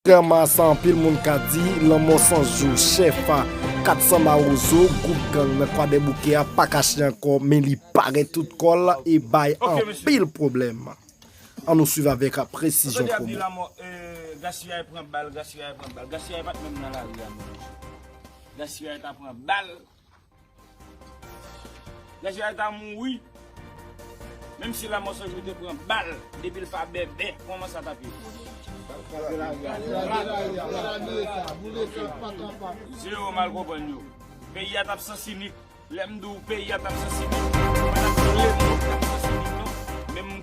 Kontrèman a sa anpil moun ka di, lanmò Sans Jou, Chèfa, 400 Mawozo, gwoup gang nan Kwadèboukè a pa kache ankò men li parèt tout kò l e bay anpil pwoblèm. An nou swiv avèk presizyon Kobe. Nèg sa yo ta mouri menm si lamò sanjou te pran bal depi l pa bèbè kòman sa tap ye. Se yo mal konprann yo. Peyi a tap sans inik. Lem di w peyi a tap sans inik. Mwen tap di w lemond tap sans inik non.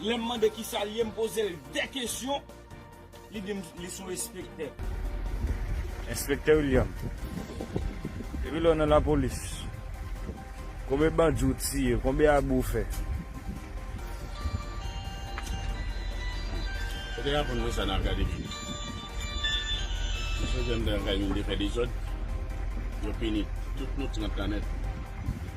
Lèm mande kisa l ye m pozel 2 kesyon li dim li son enspektè. Enspektè William, depi lè w nan lapolis konbe bandi w tiye, konbe abi w fè? Yo te raponn mwen sa nan akademi. Mesye yo te fè dezòd, yo pini tout nou 30 lan nèt.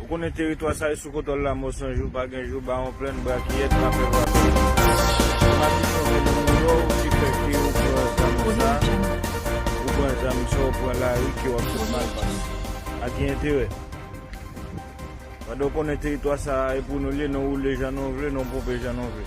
Ou konnen teritwa sa e sou kontwòl lamò san jou pa gen jou bawon plenn brakiyèt pa fè vwa bèl se madichon vènèn mouro ki fè ke ou pran zam sa ou pran zam sa ou pran lari ke wap fè mal pase a ki enterè pandan ou konnen teritwa sa e pou nou l ye non woule jan nou vle non ponpe jan nou vle.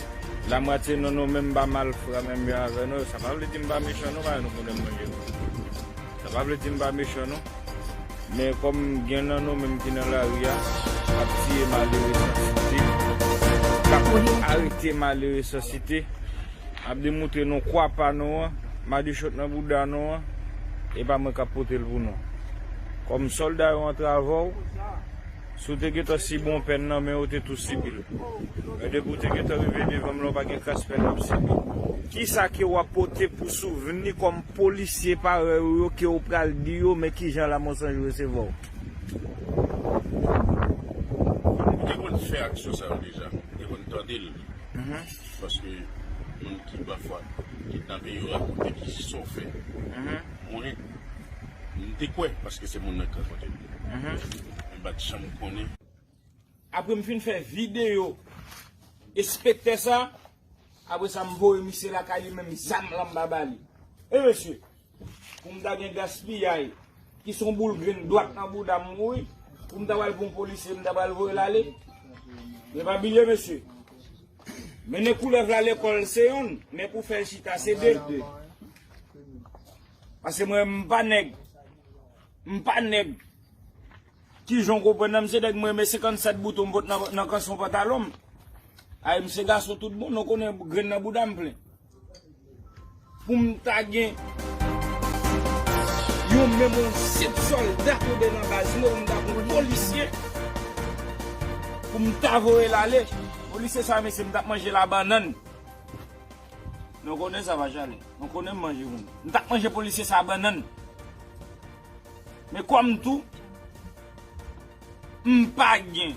La mwatye nan nou menm ba malfra menm jan avè nou sa pa vle di mpa mechan non paske nou konnen mwen menm sa pa vle di mpa mechan non men kòm gen nan nou menm ki nan lari a kap tiye malere san site kap arete malere san site ap demoutre nou kwa pa nou an madichon nan bouda nou an epa mwen kap potel pou nou kòm sòlda yo antre avèw. Si w te gentan sibi yon pèn nan men ou te tou sibi l. Men depi w te gentan rive devan m la ou pa gen kras pèn w ap sibi. Kisa ke w ap pote pou souvni kòm polisye parèy ou yo ke ou pral di yo men kijan la Monsanjou resevwa w? Moun ki te konn fè aksyon sa yo deja, m te konn tande l. Paske moun ki pafwa kidnape yo rakonte ki sa w fè. Mwen. M te kwè paske se moun nan k rakonte m yo. Men m pa t janm konnen. Apre m fin fè videyo enspektè sa, apre sa m voye misye lakay li menm zam lan m pa ba li. Wi mesye, pou m ta gen gaspiyay ki son boul grenn dwat nan bouda m wi, pou m ta pral pou yon polisye m ta pral voye l ale. Men pa bliye mesye, mennen koulèv la lekòl se youn, men pou fè l chita se de. Paske mwen m pa nèg M pa nèg Kijan w konprann nan mesye Dèk m renmen 57 bouton m pot nan kanson pantalon m Ay m se gason tout bon non konnen grenn nan bouda m plen Pou m ta gen Yon menm yon senp sòlda koube nan baz mwen m ta konn polisye Pou m ta voye l ale Polisye sa mesye m tap manje la bannann. Nou konnen sa va jale. Nou konnen m manje moun. M tap manje polisye sa bannann. Men kòm tou m pa gen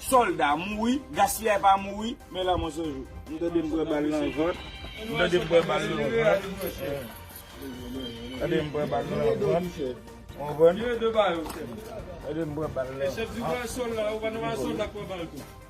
sòlda mouri, gaspiyay pa mouri, men lanmò se jou. M tande m pran bal nan vant. M tande m pran bal nan vant. M tande m pran bal nan vant. Konprann? M tande m pran bal nan vant.